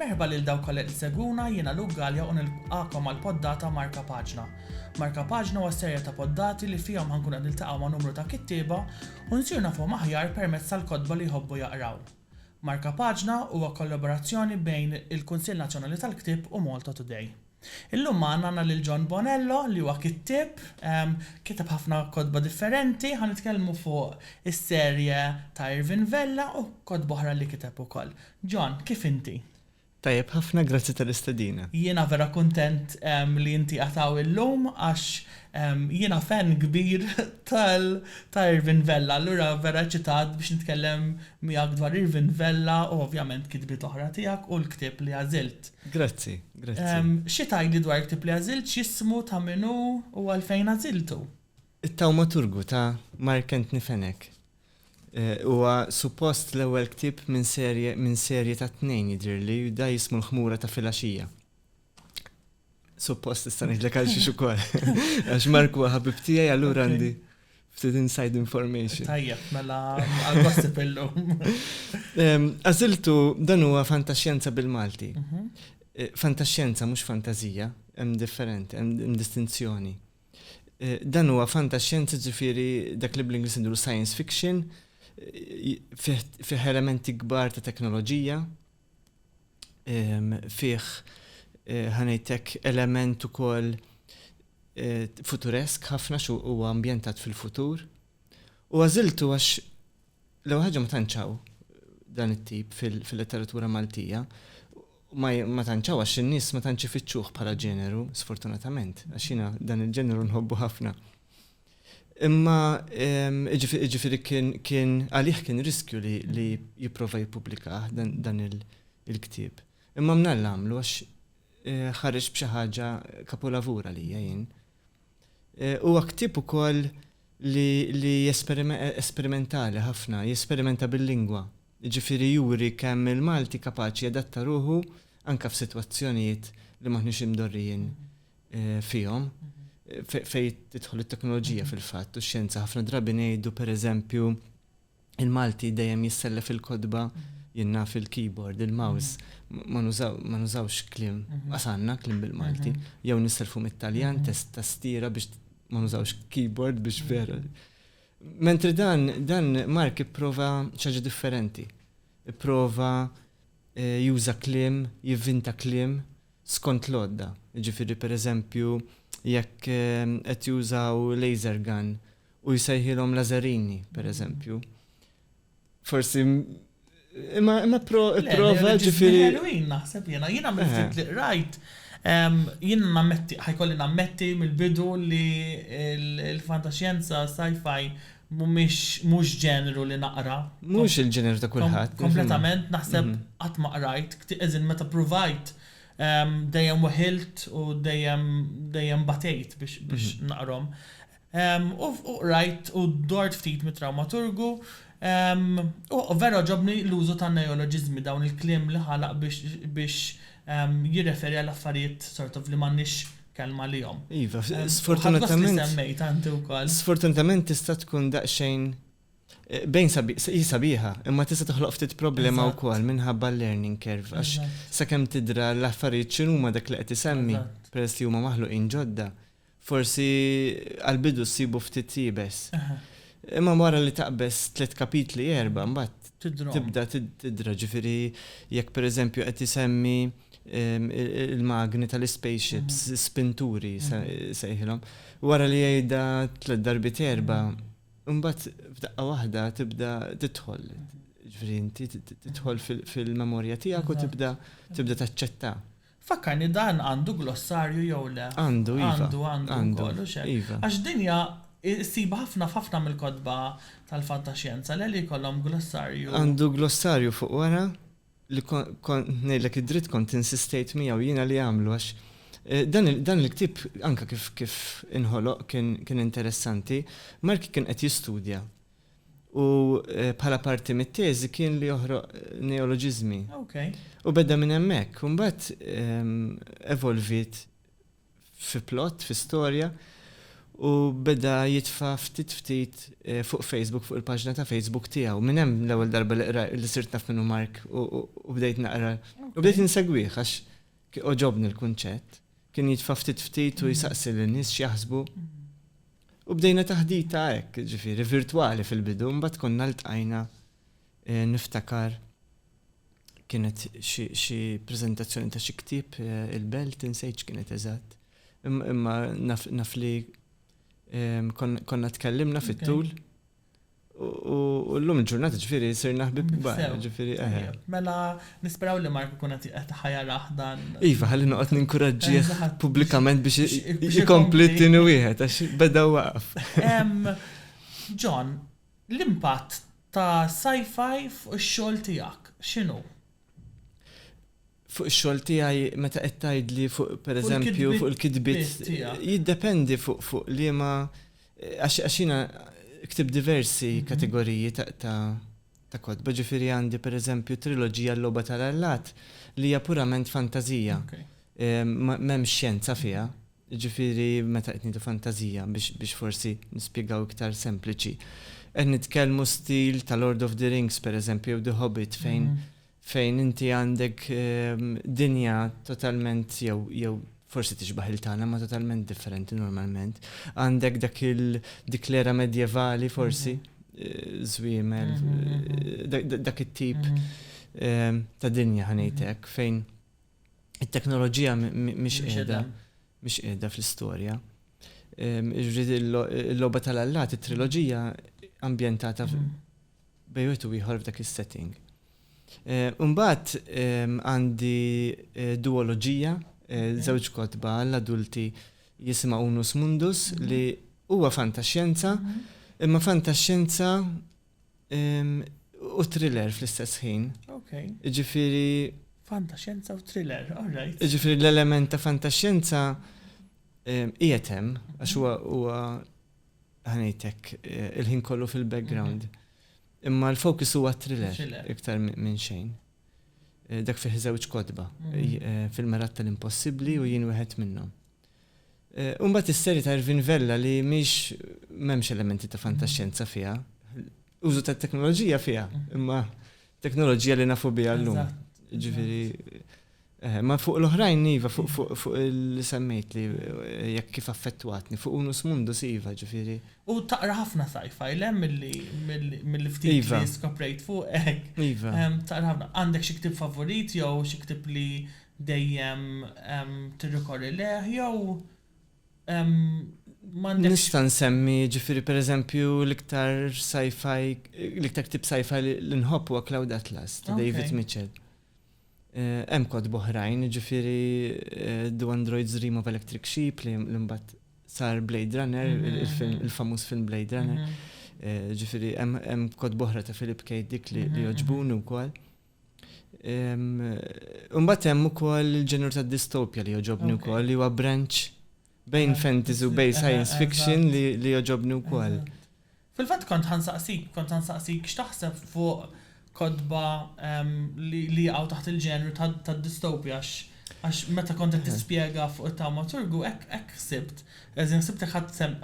Merħba lil dawk kollha li segwuna jiena Luke Gallia u nilqakom għal poddata Marka Paġna. Marka Paġna huwa serja ta' poddati li fihom ħankun qed niltaqgħu ma' numru ta' kittieba u nsir nafhom aħjar permezz tal-kotba li jħobbu jaqraw. Marka Paġna huwa kollaborazzjoni bejn il-Kunsill Nazzjonali tal-Ktieb u Malta Today. Illum magħna għandna lil John Bonello li huwa kittieb, kiteb ħafna kotba differenti, ħa nitkellmu fuq is-serje ta' Irvin Vella u kotba oħra li kiteb ukoll. John, kif inti? Tajjeb ħafna, grazzi tal-istedina. Jiena vera kuntent li inti qiegħed hawn illum għax jiena fan kbir ta' Irvin Vella, allura vera eċitat biex nitkellem miegħek dwar Irvin Vella u ovvjament kitbiet oħra tiegħek u l-ktieb li għażilt. Grazzi. Grazzi. Xi tgħidli dwar ktieb li għażilt, x'jismu, ta' min hu u għalfejn għażiltu? It-Tawmaturgu ta' Mark Anthony Fenech huwa suppost l-ewwel ktieb minn serje minn serje ta' tnejn jidhirli u da jismu l-Ħmura ta' filgħaxija. Suppost tista' ngħidlek għal xiex ukoll. Għax Mark huwa ħabib tiegħi allura għandi. Ftit inside information. Tajjeb, mela għal-gossip illum. Għaziltu dan huwa fantaxjenza bil-Malti. Mhm. Eh, fantaxjenza mhux fantazija, hemm differenti, hemm distinzjoni. Eh, dan huwa fantaxjenza ġifieri dak li bl-Ingliż indur science fiction, eh, fih elementi kbar ta' teknoloġija, fih ħa ngħidlek element ukoll futuresk ħafna xu huwa ambjentat fil-futur. U għażiltu għax l-ewwel ħaġa ma tantxaw dan it-tip fil-letteratura Maltija ma tanċaw għax in-nies ma tantx ifittxuh bħala ġeneru, sfortunatament, għax jiena dan il-ġeneru nħobbu ħafna. Imma jiġifieri kien għalih kien riskju li jipprova jippubblikah dan il-ktieb. Imma mnalla għamlu għax ħareġ b'xi ħaġa kapolavur għalija jien. Huwa ktieb ukoll li esperimentali ħafna, jesperimenta bil-lingwa. Jiġifieri juri kemm il-Malti kapaċi jadatta ruħu anke f'sitwazzjonijiet li m'aħniex imdorrijin fihom fejn tidħol it-teknoloġija fil-fatt u x-xjenza ħafna drabi ngħidu pereżempju il-Malti dejjem jissellef il-kodba jinna fil-keyboard, il-mouse, ma nużawx klim, għasanna klim bil-Malti, jew nisselfu mit-Taljan, test tastiera biex ma nużawx keyboard biex vera. Mentri dan, dan Mark ipprova ċaġa differenti. Ipprova eh, juża klim, jivvinta klim, skont l-għodda, jiġifieri pereżempju jekk qed jużaw laser gun u jsejħilhom laserini, pereżempju. Forsi imma imma prova ġifieri. Ħelwin naħseb jiena, jiena mill-ftit li qrajt jiena nammetti, ħajkolli nammetti mill-bidu li l-fantaxjenza sci-fi Mhumiex, mhux ġeneru li naqra. Mhux il-ġeneru ta' kulħadd. Kompletament, naħseb qatt ma qrajt, as in meta pruvajt dejjem weħilt u dejjem, dejjem batejt biex, biex naqrahom. U qrajt u dort ftit mit-trawmaturgu u vera għoġobni l-użu tan-neoloġiżmi, dawn il-kliem li ħalaq biex, biex jirreferi għal affarijiet sort of li m'għandniex kelma għalihom. Iva, sfortunatament. Sfortunatament tista' tkun daqsxejn eh, bejn sabiħa, imma tista' toħloq ftit problema wkoll minħabba l-learning curve għax sakemm tidra l-affarijiet x'inhuma dak li qed isemmi peress li huma maħluqin ġodda. Forsi għal-bidu ssibu ftit jibes. Imma wara li taqbes tliet kapitli erba' mbagħad tibda tidra ġifieri jekk pereżempju qed isemmi il-magni tal-ispaceships, spinturi sejħilhom, wara li jgħidha tliet darbiet erba', imbagħad f'daqqa waħda tibda tidħol. Ġifieri inti tidħol fil-memorja tiegħek u tibda tibda taċċetta. Fakkarni dan għandu glossarju jew le? Għandu, iva. Għandu, għandu wkoll, u x'hekk. Iva. Għax din hija ssibha ħafna f'ħafna mill-kotba tal-fantaxjenza, le li jkollhom glossarju. Għandu glossarju fuq wara. li kont ngħidlek id-dritt kont insistejt miegħu jiena li għamlu għax dan il-ktieb anke kif inħoloq kien interessanti. Mark kien qed jistudja u bħala parti mit-teżi kien li joħroq neoloġiżmi u beda minn hemmhekk u mbagħad evolviet fi plott, fi storja, u beda jitfa' ftit ftit fuq Facebook, fuq il-paġna ta' Facebook tiegħu. Minn hemm l-ewwel darba li qrajt li sirt naf min hu Mark u bdejt naqra u bdejt insegwih għax għoġobni l-kunċett. Kien jitfa' ftit ftit u jsaqsi lin-nies x'jaħsbu. U bdejna taħdita hekk, ġifieri virtwali fil-bidu, mbagħad konna ltqajna niftakar. kienet xi preżentazzjoni ta' xi ktieb il-belt insejt x'kienet eżatt. Imma naf li konna tkellimna fit-tul u llum il-ġurnata ġifieri sirna ħbieb kbar. Mela nisperaw li Mark ikun qed ħajarah dan. Iva, ħalli noqgħod ninkuraġġih pubblikament biex ikompli t-tieni wieħed għax beda waqaf. John, L-impatt ta' sci-fi fuq ix-xogħol tiegħek x'inhu? Fuq ix-xogħol tiegħi meta qed tgħidli fuq pereżempju fuq il-kitbiet tiegħek. Jiddependi fuq liema għax jiena ktibt diversi kategoriji ta' kotba. Ġifieri għandi pereżempju triloġija L-Logħba tal-Allat li hija purament fantażija. M'hemmx xjenza fiha. Jiġifieri meta qed ngħidu fantażija biex forsi nispjegaw iktar sempliċi, qed nitkellmu stil ta' Lord of the Rings pereżempju jew The Hobbit fejn fejn inti għandek dinja totalment jew jew forsi tixbah il-tagħna imma totalment differenti normalment. Għandek dak il dik l-era medjevali forsi, żwiemel, dak it-tip ta' dinja ħa ngħid hekk fejn it-teknoloġija mhix qiegħda mhix qiegħda fl-istorja. Ehm, Ġifieri l-logħba tal-allat, it-triloġija ambjentata mm. bejn wieħed u ieħor f'dak is-setting. Imbagħad eh, ehm, għandi eh, duoloġija, eh, żewġ kotba għall-adulti jisima Unus Mundus mm-hmm. li huwa fantaxjenza, mm-hmm. imma fantaxjenza U thriller fl-istess ħin. Ok. Ġifiri. Fantaxenza u thriller, alright. Ġifiri l-element ta' fantaxenza qiegħed hemm għax huwa huwa ħanejtek eh, il-ħin kollu fil-background. Mhm. Imma l-fokus huwa thriller iktar minn xejn. Eh, dak fih żewġ kodba mhm. eh, fil-merat tal-impossibbli u jien wieħed minnhom. U mbagħad is-serje ta' Irvin Vella li mhix m'hemmx elementi ta' fantaxxenza fiha. Użu tat-teknoloġija fiha, imma teknoloġija li nafu biha llum. Ġifieri ma fuq l-oħrajn iva, fuq li semmejt li jekk kif affettwatni, fuq Unus Mundus iva, ġifieri. U taqra ħafna sci-fi, le mill-ftit li skoprejt fuqek? Iva. Taqra ħafna. Għandek xi ktieb favorit jew xi ktieb li dejjem tirrikorri lejh jew m'għandekx. Nista' nsemmi, jiġifieri pereżempju l-iktar sci-fi, l-iktar ktieb sci-fi li nħobb huwa Cloud Atlas ta' David Mitchell. Hemm kotba oħrajn, jiġifieri Do Androids Dream of Electric Sheep li mbagħad sar Blade Runner, il-famuż film Blade Runner. Jiġifieri hemm kotba oħra ta' Philip K. Dick li jogħġbuni wkoll. Imbagħad hemm ukoll il-ġenur ta' distopja li joġobni wkoll li huwa branch bejn fantasy u bejn science fiction li joġobni wkoll. Fil-fatt kont ħansaqsik, kont ħansaqsik x'taħseb fuq kotba li jaqgħu taħt il-ġenru tad-distopja għax meta kont qed tispjega fuq it-tawmaturgu hekk ħsibt, as in ħsibtek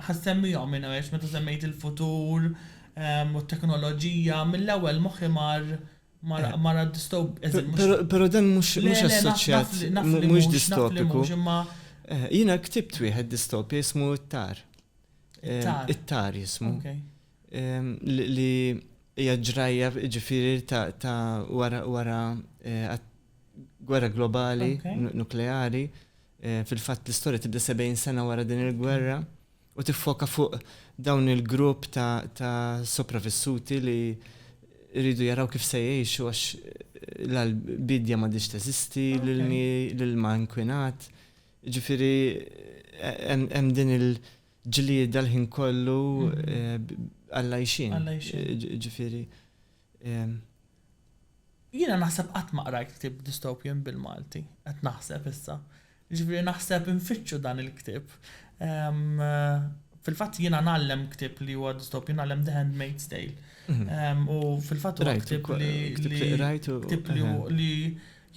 ħassemmihom in a way għax meta semmejt il-futur, u t-teknoloġija, mill-ewwel moħħi mar mar għad-dystopiku, anzi mhux. Però però dan mhux mhux assoċjat, mhux dystopiku. Le, le, naf naf li mhux, naf li mhux, imma. Jiena ktibt wieħed dystopja jismu It-Tar. It-Tar. It-Tar jismu. Okay. Li hija ġrajja ġifieri ta' wara wara gwerra globali nukleari. Fil-fatt l-istorja tibda 70 sena wara din il-gwerra. u tiffoka fuq dawn il-grupp ta' sopravissuti li jridu jaraw kif se jgħixu għax l-bidja m'għadhiex teżisti, l-ilmi, l-ilma inkwinat. Ġifieri hemm din il-ġlieda l-ħin kollu għall-għajxien. Ġifieri Jiena naħseb qatt ma qrajt ktieb dystopian bil-Malti, qed naħseb issa. Jiġifieri naħseb infittxu dan il-ktieb. Fil-fatt jiena ngħallem ktieb li huwa dystopian, ngħallem The Handmaid's Tale. U fil-fatt huwa ktieb li. Ktieb li qrajt u. Ktieb li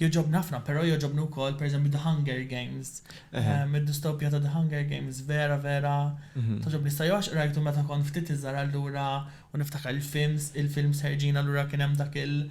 Jogħġobni ħafna, però jogħġobni wkoll pereżempju The Hunger Games. Ehm, id-distopja ta' The Hunger Games vera vera mhm. togħġobni sa għax qrajtu meta kont ftit iżgħar allura u niftakar il-films, il-films ħerġin allura kien hemm dak il-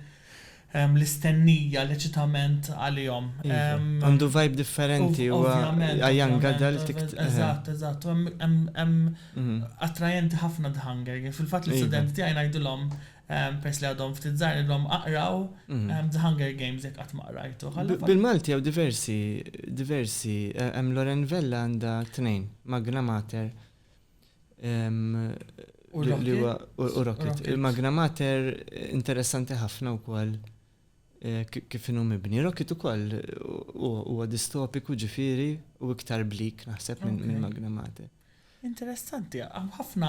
ehm, l-istennija, l-eċitament għalihom. Iva. Ehm, Għandu vibe differenti u għajan gadal tik. Eżatt, eżatt, hemm mhm. attrajenti ħafna The Hunger Games. Fil-fatt l-istudenti iva. tiegħi ngħidulhom Peress li għadhom ftit żgħar ilhom aqraw The Hunger Games jekk qatt ma qrajtuh. Alla. Bil-Malti hawn diversi, diversi, hemm Loren Vella għandha tnejn, Magna Mater U li Rocket. huwa u u Rocket. Il-Magna Mater interessanti ħafna wkoll eh, ki- kif inhu mibni. Rocket ukoll u- huwa distopiku ġifieri u iktar blik naħseb minn minn Magna Mater. Interessanti, għam ħafna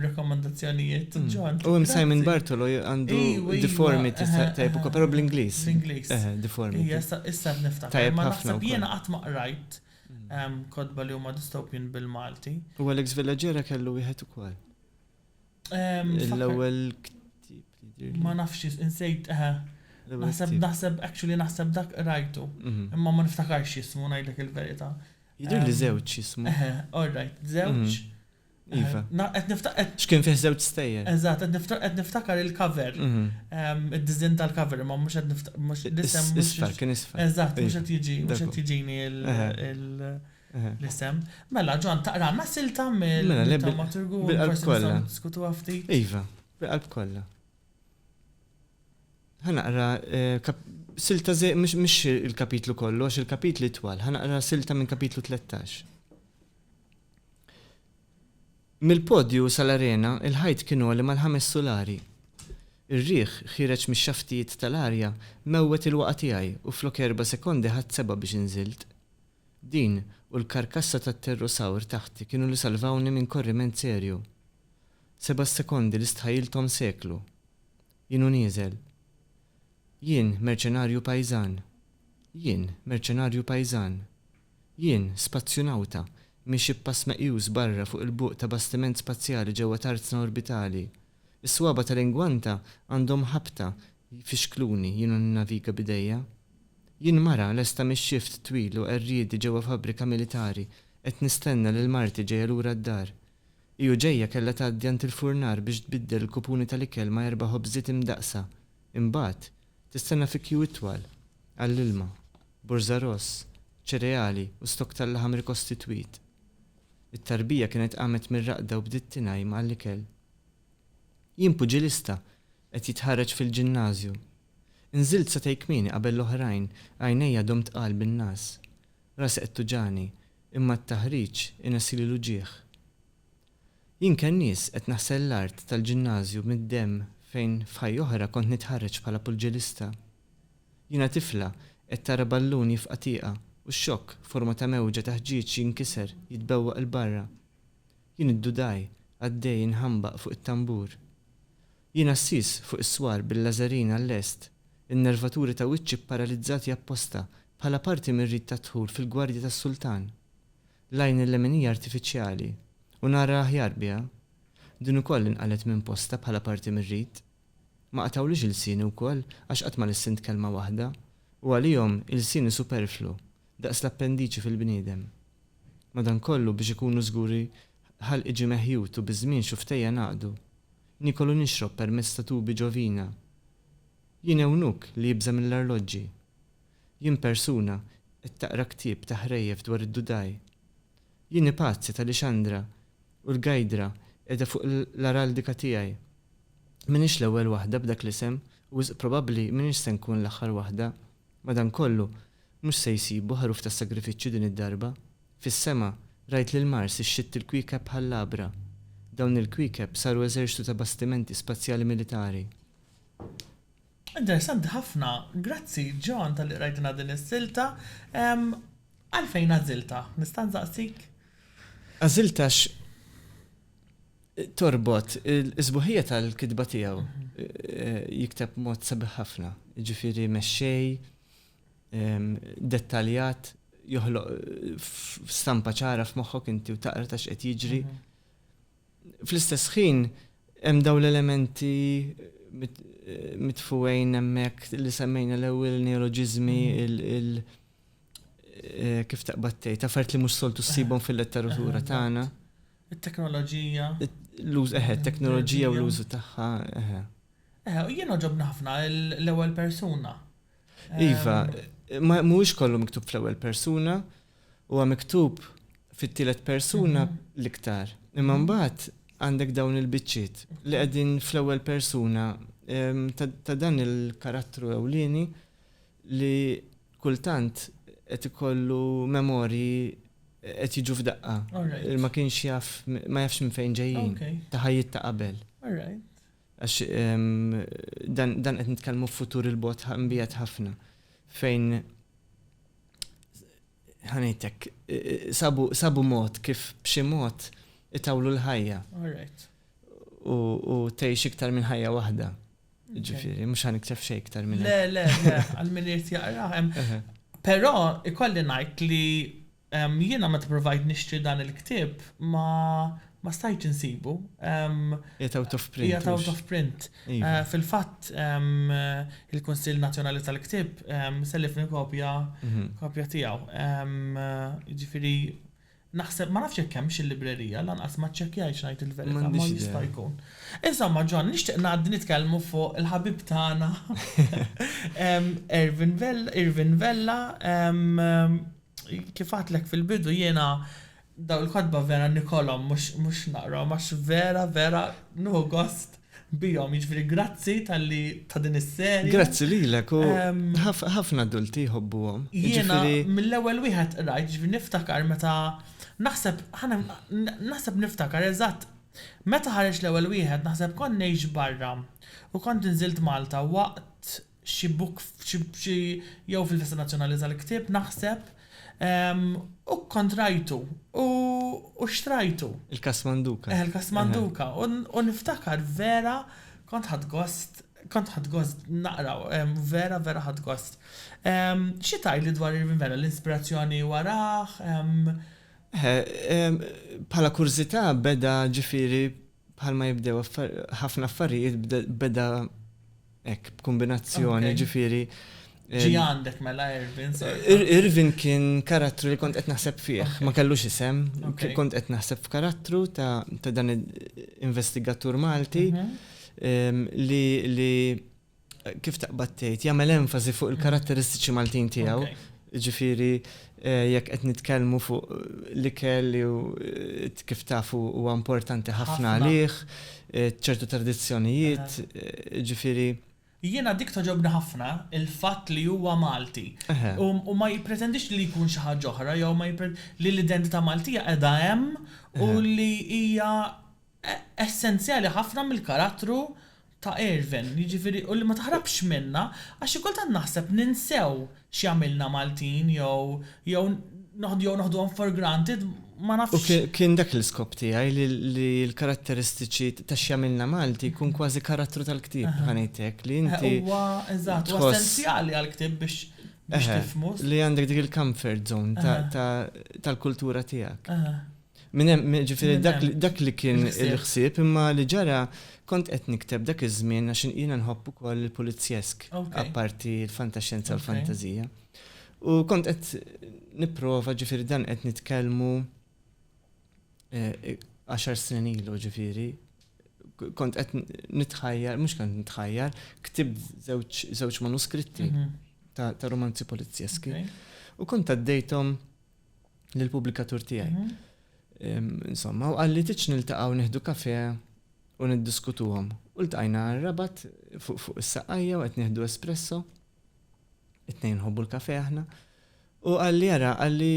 rekomendazzjonijiet, mm. John. U għam Simon Bartolo għandu deformity tajb ukoll, pero bl-Inglis. Bl-Inglis. Deformity. Issa issa niftakar. Tajb ħafna. Jiena qatt ma qrajt mm. kodba li huma dystopian bil-Malti. U Alex Villagera kellu wieħed ukoll. L-ewwel ktieb. Ma nafx insejt eħe. Naħseb naħseb actually naħseb dak rajtu. Mhm. Imma ma niftakarx jismu ngħidlek il-verità. Jidher li żewġ jismu. Eħe, all right, żewġ. Mhm. Iva. Qed niftakar. X'kien fih żewġ stejjer. Eżatt, qed niftakar il-cover. Mhm. Id-diżinn tal-cover imma mhux qed niftakar. Isfel, kien isfel. Eżatt, mhux qed jiġi, mhux qed jiġini il- l-isem. Mela, John, taqralna silta mill-drammaturgu u forsi nistgħu niddiskutuha ftit? Iva, bil-qalb kollha. Ħa naqra silta mhux il-kapitlu kollu, għax il-kapitli twal, ħa naqra silta minn kapitlu 13. Mill-podju sal-arena, il-ħajt kienu għalli mal-ħames sulari. Ir-riħ ħireċ mix xaftijiet tal-arja mewwet il-waqa tiegħi u flok erba' sekondi ħadd seba' biex inżilt. Din u l-karkassa tat-pterrosawr taħti kienu li salvawni minn korriment serju. Seba' sekondi li stħajjilthom seklu. Jien u nieżel. Jien, merċenarju pajżan. Jien, merċenarju pajżan. Jien, spazzjunawta, miexi b'pass meqjus barra fuq il-buq ta' bastiment spazjali ġewwa tarzna orbitali. Is-swaba' tal-ingwanta għandhom ħabta jfixkluni jiena ninnaviga b'idejja. Jien mara lesta mix-xift twil u qerriedi ġewwa fabbrika militari qed nistenna lil marti ġejja lura d-dar. Hi u ġejja kellha tgħaddi għand il-furnar biex tbiddel il-kupuni tal-ikel ma' erba' ħobżiet imdaqqsa. Imbagħad, tistenna fi kju itwal għall-ilma, burża ross, ċereali u stokk tal-laħam rikostitwit. It-tarbija kienet qamet mir-raqda u bdiet tingħajm għall-ikel. Jien puġilista, qed jitħarreġ fil-ġinnażju. Inżilt satej kmieni qabel l-oħrajn, għajnejja għadhom tqal bin-ngħas. Rasi qed tuġagħni, imma t-taħriġ inessili l-uġigħ. Jien kennies, qed naħsel l-art tal-ġinnażju mid-demm fejn f'ħajja oħra kont nitħarreġ bħala puġilista. Jiena tifla, qed tara ballun jifqa' tieqa, u x-xokk, forma ta' mewġa ta' ħġieġ jinkiser, jitbewwaq 'l barra. Jien iddudai għaddej inħambaq fuq it-tambur. Jien għassies fuq is-swar bil-lażarin għal-lest, in-nervaturi ta' wiċċi pparalizzati apposta bħala parti mir-rit tad-dħul fil-gwardja tas-sultan. L-għajn il-lemin hija artifiċjali u nara aħjar biha. Din ukoll inqalgħet minn postha bħala parti mir-rit. Ma qatgħulix ilsieni wkoll għax qatt ma lissint kelma waħda u għalihom ilsieni superflu daqs l-appendiċi fil-bniedem. Madankollu, biex ikunu żguri ħalq iġi meħjut u biż-żmien xufftej jengħaqdu. Niekol u nixrob permezz ta' tubi ġo vina. Jien ewnuq li jibża' mill-arloġġi. Jien persuna qed taqra ktieb ta' ħrejjef dwar id-dudaj. Jien ipazzi tal-ixandra u l-gajdra qiegħda fuq l-araldika tiegħi. M'iniex l-ewwel waħda b'dak l-isem u wisq probabbli m'iniex se nkun l-aħħar waħda. Madankollu, mhux se jsibu ħaruf ta' sagrifiċċju din id-darba. Fis-sema, rajt lil Mars ixxitt il-kwiekeb bħal labra. Dawn il-kwiekeb saru eżerċtu ta' bastimenti spazjali militari. Interessanti ħafna, grazzi John talli qrajtilna din is-silta. Għalfejn għażiltha, nista' nsaqsik? Għażiltha għax Torbot is-sbuħija tal-kitba tiegħu. Jikteb mod sabiħ ħafna, ġifieri mexxej, dettaljat, joħloq stampa ċara f'moħħok inti u taqra ta' x'qed jiġri. Mhm. Fl-istess ħin hemm dawn l-elementi mitfuwejn hemmhekk li semmejna l-ewwel neoloġiżmi mhm. il- eh, kif taqbad tgħid, affarijiet li mhux soltu ssibhom fil-letteratura tagħna. It-teknoloġija. L-uż, eħe, t-teknoloġija u l-użu tagħha, eħe. Eħe, u jien oġobna ħafna l-ewwel persuna. Iva, mhuwiex kollu miktub fl-ewwel persuna, huwa miktub fit-tielet persuna mhm. l-iktar. Imma mhm. mbagħad għandek dawn il-biċċiet li qegħdin fl-ewwel persuna ta' dan il-karattru ewlieni li kultant qed ikollu memorji qed jiġu f'daqqa. Ma kienx jaf, ma jafx minn fejn ġejjin. Ta' ħajjiet ta' qabel. Għax dan qed nitkellmu f'futur il-bogħod mbiegħed ħafna fejn ħa ngħidlek sabu mod kif b'xi mod itawlu l-ħajja. U tgħix iktar minn ħajja waħda. Ġifiri, mux għan iktef xej iktar minn. Le, le, le, għal minn irti jaqra. Pero, ikolli najt li jina ma t-provajt nixtri dan il-ktib ma ma stajt nsibu. Jgħat out of print. Jgħat out of print. Iva. Eh, fil-fat, il-Konsil Nazjonali tal-Ktib sellifni kopja mhm. kopja tijaw. Ġifiri, Naħseb, ma nafx jekk hemmx il-librerija, lanqas ma ċċekkjajtx ngħid il-verità, ma jista' jkun. Insomma, John, nixtieq ngħaddi nitkellmu fuq il-ħabib tagħna Irvin Vella. Kif għedtlek fil-bidu jiena dawn il-kotba vera nikolhom mhux naqrahom għax vera, vera nieħu gost. bihom, jiġifieri grazzi talli ta' din is-serje. Grazzi lilek u ħafna adulti jħobbuhom. Jiena mill-ewwel wieħed qrajt, jiġifieri niftakar meta naħseb naħseb niftakar eżatt meta ħareġ l-ewwel wieħed naħseb kont ngħix barra u kont inżilt Malta waqt xi book f'xi jew fil-Festa Nazzjonali tal-Ktieb naħseb u kkontrajtu u xtrajtu. Il-Kasmanduka. Eħe l-Kasmanduka u niftakar vera kont ħadt gost kont ħadt gost naqra vera vera ħadt gost. Xi tgħidli dwar Irvin Vella l-inspirazzjoni warah? Eħe, bħala kurżità beda ġifieri Bħalma jibdew ħafna affarijiet beda hekk b'kumbinazzjoni ġifieri. Ġie għandek mela Irvin sorta? Irvin kien karattru li kont qed naħseb fih, ma kellux isem, kont qed naħseb f'karattru ta' dan investigatur Malti li kif taqbad tgħid, jagħmel enfasi fuq il-karatteristiċi Maltin tiegħu. Ġifieri eh, jekk qed nitkellmu fuq l-ikel li eh, kif tafu huwa importanti ħafna għalih, eh, ċertu tradizzjonijiet, ġifieri Jiena dik toġobni ħafna il-fatt li huwa Malti. U ma jippretendix li jkun xi ħaġa oħra jew ma li l-identità Maltija qiegħda hemm u li hija essenzjali ħafna mill-karattru ta' Ervin, jiġifieri u li ma taħrabx minnha għax xi kultant naħseb ninsew x'jagħmilna Maltin jew jew noħd jew noħduhom for granted ma U nafx. kien dak l-iskop tiegħi li li l-karatteristiċi ta' x'jagħmilna Malti jkun kważi karattru tal-ktieb, ħa ngħid hekk, li inti tħoss. Huwa, eżatt, huwa essenzjali għall-ktieb biex biex tifhmu. Li għandek dik il-comfort zone ta' tal-kultura tiegħek. Minn hemm, ġifieri dak li kien il-ħsieb imma li ġara kont qed nikteb dak iż-żmien għax jiena nħobb ukoll il-pulizjesk apparti l-fantaxxenza u l-fantażija. U kont qed nipprova ġifieri dan qed nitkellmu eh, għaxar snin ilu ġifieri kont qed nitħajjar, mhux kont nitħajjar, ktib żewġ manuskritti mhm. ta' romanzi polizjeski. U kont għaddejthom lill-pubblikatur tiegħi. Insomma, u qalli tiġ niltaqgħu nieħdu kafe u niddiskutuhom. U ltqajna rabat fuq is-saqajja u qed nieħdu espresso. It-tnejn nħobbu l-kafe aħna. U qalli jara qalli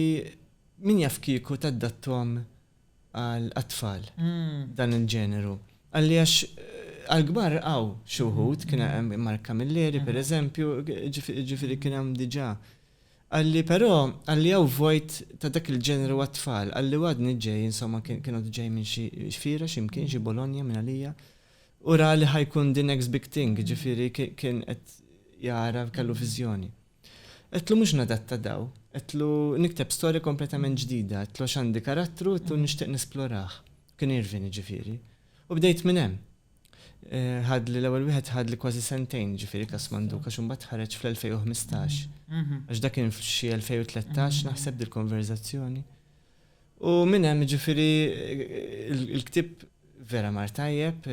min jaf kieku taddattom għal tfal hmm. dan il-ġeneru. Għalli għax għal-gbar għaw xuħut, kien hemm Mark Camilleri, per eżempju, ġifiri kien hemm diġa Qalli, Però, qalli hawn vojt ta' dak il-ġeneru għat-tfal, qalli u għadni ġej, insomma kien għadu ġej minn xi fiera xi mkien, xi Bologna minn għalija, u ra li ħa jkun the next big thing, jiġifieri kien qed jara, kellu viżjoni. Għedtlu mhux nadatta daw, għedtlu nikteb storja kompletament ġdida, għedtlu għax għandi karattru għedtlu nixtieq nesplorah, kien Irvin jiġifieri, u bdejt minn hemm. Ħadli l-ewwel wieħed ħadli kważi sentejn, jiġifieri Kas Manduka, għax imbagħad ħareġ fl-2015. Għax dak kien f'xi 2013 naħseb dil-konverżazzjoni. U minn hemm jiġifieri l-ktieb vera mar tajjeb,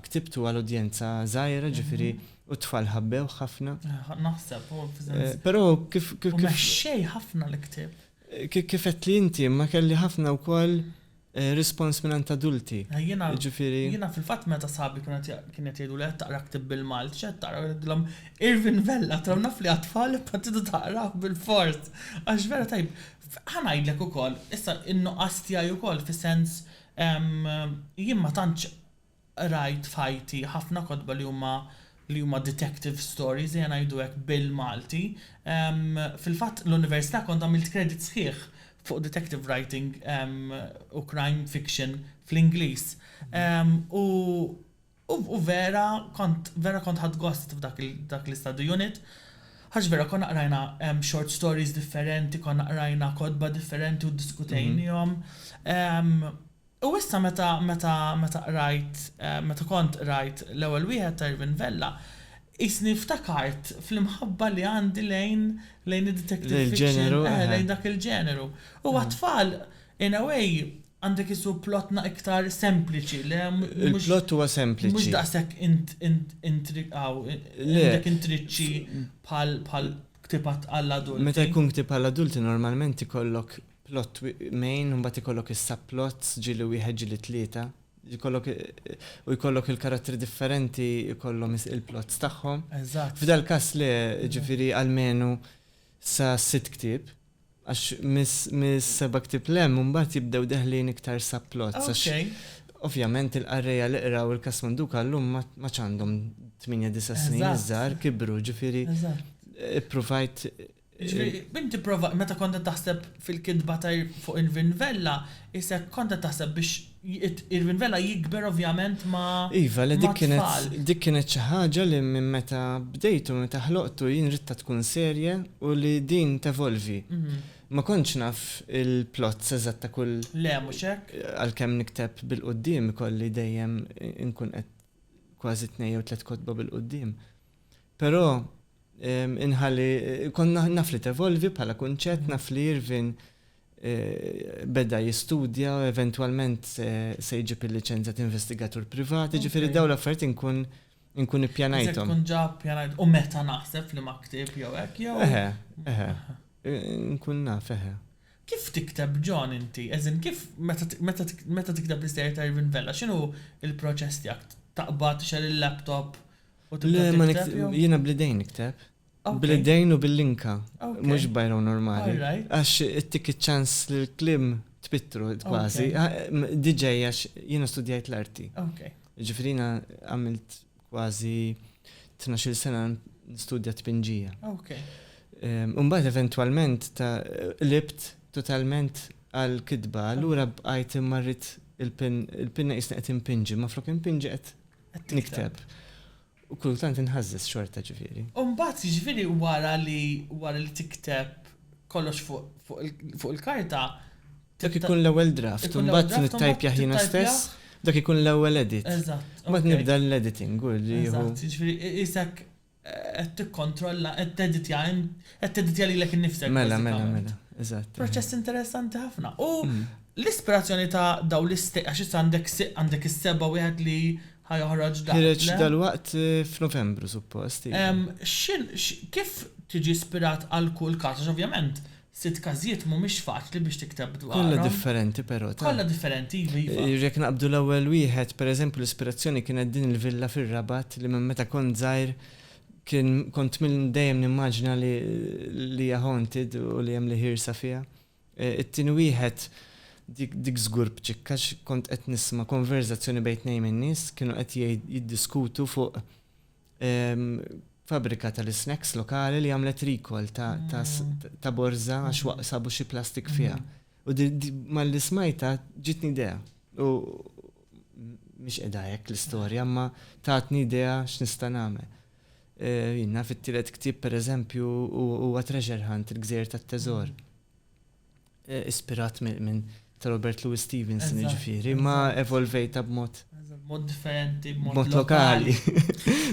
ktibtu għal udjenza żgħira, jiġifieri u t-tfal ħabbewh ħafna. Naħseb, u f'żens. Però kif. Mexxej ħafna l-ktieb. Kif qed li inti, imma kelli ħafna wkoll. Rispons mingħand adulti, jiġifieri. Jiena fil-fatt meta sħabi kienu qed kienu qed jgħiduli qed taqra ktieb bil-Malti x'qed taqra u ngħidilhom Irvin Vella għattilhom naf li għat-tfal imma tridu taqrawh bilfors għax vera tajjeb. Ħa ngħidlek ukoll, issa n-nuqqas tiegħi wkoll fis-sens jien ma tantx qrajt f'ħajti ħafna kotba li huma li huma detective stories, ejja ngħidu hekk bil-Malti. Fil-fatt l-università kont għamilt credit sħiħ fuq detective writing u crime fiction fl-Ingliż. U u vera kont vera kont ħadt gost f'dak dak l-istudy unit għax vera konna qrajna short stories differenti, konna qrajna kotba differenti u ddiskutejniehom. U issa meta, meta, meta qrajt, meta kont qrajt l-ewwel wieħed ta' Irvin Vella, qisni ftakart fl-imħabba li għandi lejn, lejn id-detective fiction, eh, lejn dak il-ġeneru. U għat-tfal, in a way, għandek isu plot na iktar sempliċi, le, mhux, Il-plot huwa sempliċi. mhux daqshekk int, int, intriqaw, għandek intriċċi bħal, bħal ktieb għall-adulti. Meta jkun ktieb għall-adulti normalment ikollok plot main u mbagħad ikollok is-subplots, ġieli wieħed, ġieli tlieta, jkollok u jkollok il-karattri differenti jkollhom il-plots tagħhom. Eżatt. F'dal-każ le, jiġifieri almenu sa sitt ktieb, għax mis-seba' ktieb 'l hemm imbagħad jibdew deħlin iktar subplots għax ovvjament il-qarrejja li qraw il-Każ Manduka llum ma tantx għandhom tmienja disa' snin iż-żgħar kibru, jiġifieri ppruvajt Jiġifieri, bint tipprova, meta kont qed taħseb fil-kitba ta' fuq Irvin Vella, isek kont qed taħseb biex Irvin Vella jikber ovvjament ma' tfal. Iva, le dik kienet, dik kienet xi ħaġa li minn meta bdejtu, meta ħloqtu, jien ridtha tkun serje u li din tevolvi. Ma kontx naf il-plots eżatt ta' kull. Le, mhux hekk. Għalkemm nikteb bil-quddiem ikolli dejjem inkun qed kważi tnejn jew tliet kotba bil-quddiem. Però inħalli, kont naf li tevolvi bħala kunċett, naf li Irvin beda jistudja u eventwalment se jġib il-liċenzja ta' investigatur privat, jiġifieri dawn l-affarijiet inkun inkun ippjanajthom. Tkun ġa ppjanajt u meta naħseb f'liema ktieb jew hekk jew? Eħe, eħe. Inkun naf, eħe. Kif tikteb John inti? As in kif meta tikteb l-istorja ta' Irvin Vella, x'inhu l-proċess tiegħek? Taqbad, tixgħel il-laptop Le, ma jiena blidejn nikteb. Blidejn u bil-linka, mhux bajraw normali. Għax ittik iċ-ċans l-klim tpittru kważi. DJ għax jiena studjajt l-arti. Ġifirina għamilt kważi 12 sena nistudja tpinġija. Umbat eventualment ta' libt totalment għal-kitba, l-ura bqajt immarrit il-pinna jisna qed impinġi, ma flok impinġi qed Qed nikteb. U kultant inħażżeż xorta ġifieri. U mbagħad jiġifieri wara li wara li tikteb kollox fuq il-karta. Dak ikun l-ewwel draft, u mbagħad nittajpjah jiena stess, dak ikun l-ewwel edit. Eżatt. Mbagħad nibda l-editing u li jieħu. Eżatt, jiġifieri qisek Qed tikkontrolla, qed teditja int, qed teditja lilek innifsek Mela, mela, mela, eżatt. Proċess interessanti ħafna. U l-ispirazzjoni ta' dawn l-istejqer, għax issa għandek għandek is-seba' wieħed li ħa joħroġ dan. Ħireġ dalwaqt f'Novembru suppost. X'in, kif tiġi ispirat għal kull każ? Għax ovvjament Sitt każijiet mhumiex faċli biex tikteb dwarhom. Kollha differenti però, ta? Kollha differenti, iva, iva. Jekk naqbdu l-ewwel wieħed, pereżempju l-ispirazzjoni kienet din il-villa fir-Rabat li minn meta kont żgħir kien kont dejjem nimmaġina li li hija haunted u li hemm l-iħirsa fiha. It-tieni wieħed dik dik żgur b'ċikk għax kont qed nisma' konverżazzjoni bejn tnejn min-nies kienu qed jiddiskutu fuq Fabbrika tal-isnacks lokali li għamlet rikol ta' borza għax waqsabu xi plastik fiha. U mal-li smajta ġitni idea. U mhix qiegħda hekk l-istorja, ma tatni idea x'nista' nagħmel. E, Jina fit-tielet ktieb pereżempju huwa treasure hunt il-gżejjer tat-teżor. Eh, ispirat minn ta' Robert Louis Stevenson, ġifiri, ma evolvejta b'mod. Mod differenti, b'mod lokali.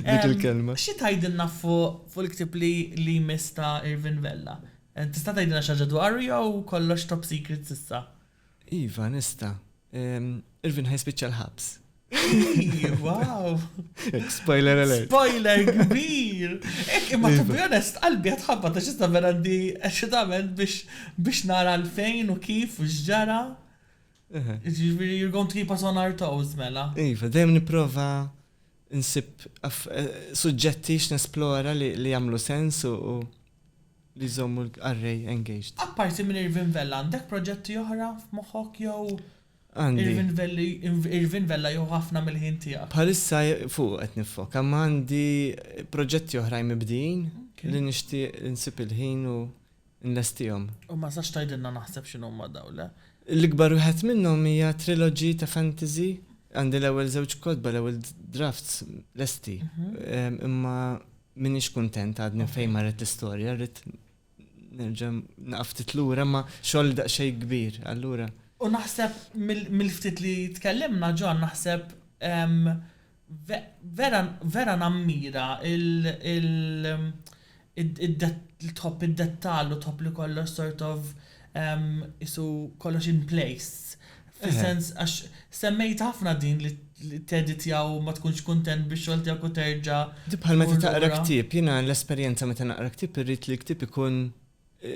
Dik il-kelma. Xi tajdilna fuq il-ktib li li mista Irvin Vella? Eh, tista' tajdilna xaġa dwaru jew kollox top secret sissa? Iva, nista. Irvin ħaj spiċċa l-ħabs. Wow! Spoiler alert. Spoiler kbir! Ek, imma to be iva. honest, qalbi għatħabba ta' xista vera di eċitament biex nara l-fejn u kif u xġara. Ġiviri, you're going to keep us on our toes, mela. Iva, dem niprofa nsib eh, suġġetti x'nesplora li jagħmlu sens u li jżommu l-array engaged. Apparti minn Irvin Vella, għandek proġetti oħra f'moħħok jew? Għandi. Irvin Vella jieħu ħafna mill-ħin tiegħek. Bħalissa fuqu qed niffoka, imma għandi proġetti oħrajn mibdijin li nixtieq insib il-ħin u nlestihom. U ma tistax tgħidilna naħseb x'inhuma dawn, le? L-ikbar wieħed minnhom hija trilogy ta' fantasy. Għandi l-ewwel żewġ kotba, l-ewwel drafts lesti. Imma m'iniex kuntent għadni fejn marret l-istorja, rrid Nerġa' naqaf ftit lura ma xogħol daqsxejn kbir, allura. U naħseb mill-ftit li tkellimna John naħseb vera nammira li tħobb id-dettall u tħobb li kollox sort of qisu kollox in place. Fis-sens, għax semmejt ħafna din li tedditjaw u ma tkunx kuntent bix-xogħol tiegħek u terġa'. Di bħal meta taqra ktieb, jiena l-esperjenza meta naqra ktieb irrid li l-ktieb ikun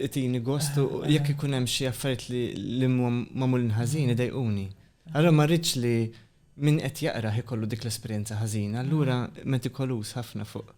itini gost u jekk ikun hemm xi affarijiet li huma magħmulin ħażin idejquni. Allura ma rridx li min qed jaqrah ikollu dik l-esperjenza ħażina, allura metikoluż ħafna fuq.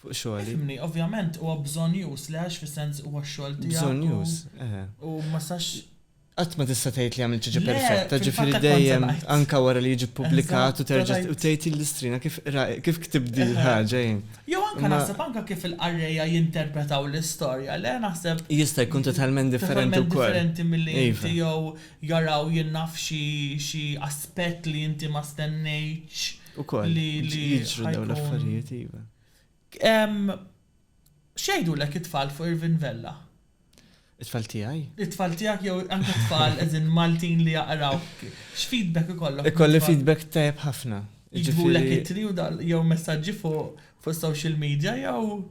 fuq xogħli. Ifhimni, ovvjament huwa bżonnjuż, le għax fis-sens huwa x-xogħol tiegħek. Bżonnjuż, eħe. U ma sax. Qatt ma tista' tgħid li għamilt xi ġa perfetta, ġifieri dejjem anke wara li jiġi ppubblikat u terġa' u tgħid il-listrina kif kif ktibt din il-ħaġa jien. Jew anke naħseb anke kif il-qarrejja jinterpretaw l-istorja, le naħseb. Jista' jkun totalment differenti wkoll. Totalment differenti milli inti jew jaraw jien naf xi xi aspett li inti ma stennejtx. Ukoll li jiġru dawn l-affarijiet iva. X'jgħidulek it-tfal fuq Irvin Vella? It-tfal tiegħi? It-tfal tiegħek jew anke t-tfal as in Maltin li jaqraw. X'feedback ikollok? Ikolli feedback tajjeb ħafna. Jiġbulek ittri jew messaġġi fuq social media jew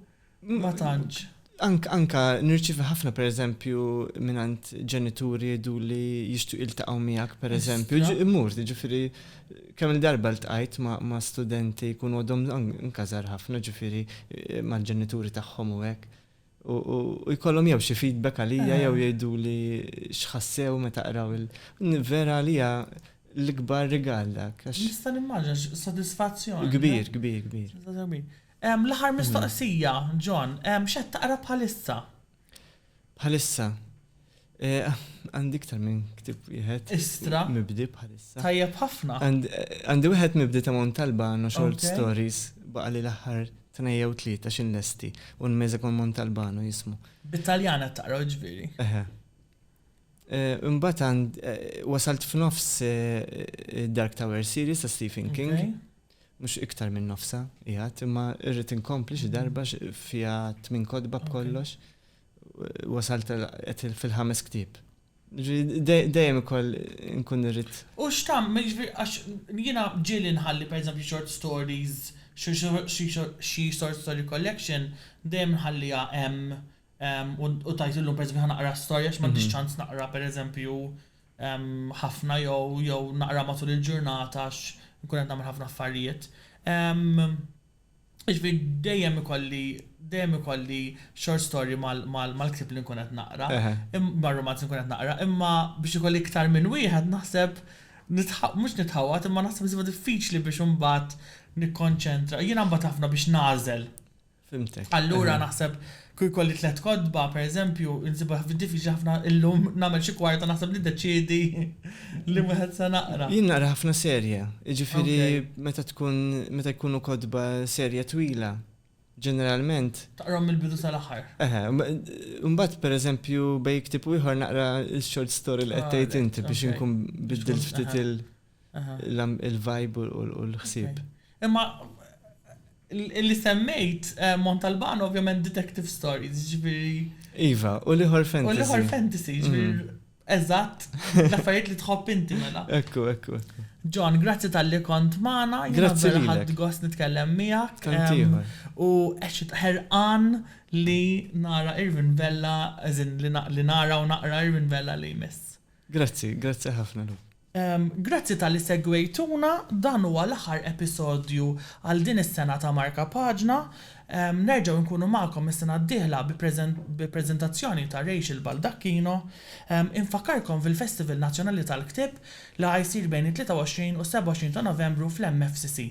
Ma tantx. Anka nirċivi ħafna per eżempju minant ġenituri du li jishtu iltaqaw miegħek per eżempju. Immur, ġifiri, kemm il-darba l-tqajt ma' studenti kun għodhom nkazar ħafna ġifiri eh, ma' ġenituri tagħhom u hekk. U jkollhom jew xi feedback għalija jew jgħidu li xħassew meta qraw il. Vera għalija l-ikbar rigal dak. Nista' nimmaġa sodisfazzjon. Kbir, kbir, kbir. L-aħħar mistoqsija, John, x'qed taqra bħalissa? Bħalissa. Għandi iktar minn ktib wieħed. Istra. Mibdi bħalissa. Tajjeb ħafna. Għandi wieħed mibdi ta' Montalba no short stories baqa' li l-aħħar tnejja u tlieta xin lesti u nmeża kon Montalbano jismu. Bit-Taljana taqra ġviri. Eħe. Imbagħad wasalt f'nofs Dark Tower series ta' Stephen King. Mhux iktar minn nofsha qiegħed, imma rrid inkompli xi darba fiha tmien kotba b'kollox. Wasalt qed fil-ħames ktieb. Jiġifieri dejjem ikoll inkun irrid. U x'tagħmel, jiġifieri għax jiena ġieli nħalli pereżempju short stories, xi short story collection, dejjem nħalliha hemm u tgħid illum pereżempju ħa naqra storja għax m'għandix ċans naqra pereżempju ħafna jew jew naqra matul il-ġurnata għax inkun qed nagħmel ħafna affarijiet. Jiġifieri dejjem ikolli dejjem ikolli short story mal-ktieb li nkun qed naqra, mar-rumanz li nkun qed naqra, imma biex ikolli iktar minn wieħed naħseb mhux nitħawwad imma naħseb isibha diffiċli biex imbagħad nikkonċentra. Jiena nbagħad ħafna biex nagħżel Fhimtek. Allura naħseb kieku jkolli tliet kotba, pereżempju, insibha diffiċli ħafna illum nagħmel xi kwarta naħseb niddeċiedi li wieħed se naqra. Jien naqra ħafna serje, jiġifieri meta tkun meta jkunu kotba serje twila, ġeneralment. Taqrahom mill-bidu sal-aħħar. Eħe, mbagħad pereżempju bejn ktieb u ieħor naqra x-short story li qed tgħid inti biex inkun biddil ftit il- il-vibe u l-ħsieb. Imma li semmejt Montalbano ovvjament detective stories, ġifieri. Iva, u l-ieħor fantasy. U l-ieħor fantasy, ġifieri eżatt, l-affarijiet li tħobb inti mela. Ekku, ekku, ekku. John, grazzi tal-li kont magħna. Grazzi li ħadd gost nitkellem miegħek. U għexit ħerqan li nara Irvin Vella, li nara u naqra Irvin Vella li jmiss. Grazzi, grazzi ħafna Lu. Grazzi talli segwejtuna, dan huwa l-aħħar episodju għal din is-sena ta' Marka Paġna. Nerġgħu nkunu magħkom is-sena d-dieħla bi preżentazzjoni ta' Rachel Baldacchino. Infakkarkom fil-Festival Nazzjonali tal-Ktieb li ħa jsir bejn it-23 u s-27 ta' Novembru fl-MFCC.